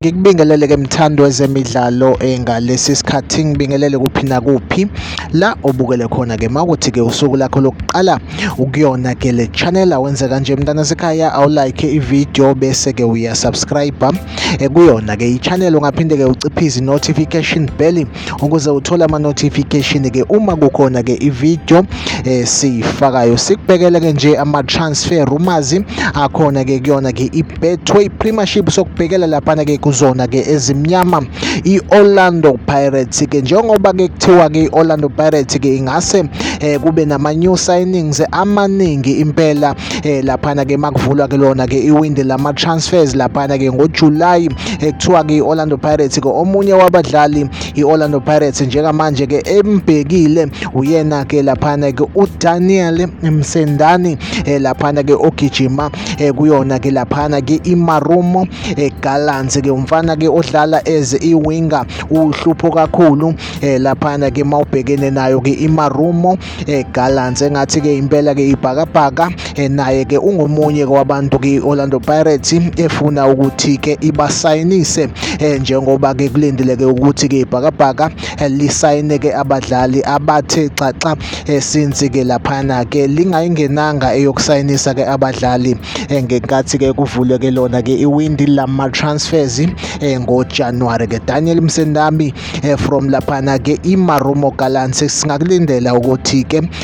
ngikubingelele ke mthando wezemidlalo eh, ngalesi sikhathi ngibingelele kuphi nakuphi la obukele khona ke makuthi ke usuku lakho lokuqala ukuyona ke le channel awenze kanje mntana sekhaya awulike ivideo bese ke uyasubscribe eh, kuyona ke i-channel ungaphinde ke uciphe izi-notification bell ukuze uthole ama notification ke uma kukhona ke i video eh, siyifakayo sikubhekele ke nje ama transfer rumors akhona ke kuyona ke i Betway Premiership sokubhekela lapha ke kuzona ke ezimnyama i Orlando Pirates ke njengoba ke kuthiwa ke Orlando Pirates ke ingase eh, kube nama new signings amaningi impela eh, lapha ke makuvulwa ke lona ke iwindi lama transfers lapha ke ngoJuly ekuthiwa ke i-Orlando Pirates ke omunye wabadlali i-Orlando Pirates njengamanje ke embhekile uyena ke laphana ke uDaniel Msendani eh, laphana ke ogijima eh, kuyona ke laphana ke iMarumo eh, Gallants ke umfana ke odlala as iwinger uhlupho kakhulu laphana ke mawubhekene nayo ke iMarumo eh, Gallants engathi ke impela ke ibhakabhaka eh, naye ke ungomunye kwabantu ke Orlando Pirates efuna ukuthi ke ibasayinise eh, njengoba ke kulindeleke ukuthi ke ibhakabhaka eh, lisayine ke abadlali abathe xaxa eh, since ke laphana ke lingayingenanga eyokusayinisa ke abadlali eh, ngenkathi ke kuvuleke lona ke iwindi lama transfers eh, ngoJanuary ke Daniel Msendami eh, from laphana ke iMarumo Gallants singakulindela ukuthi ke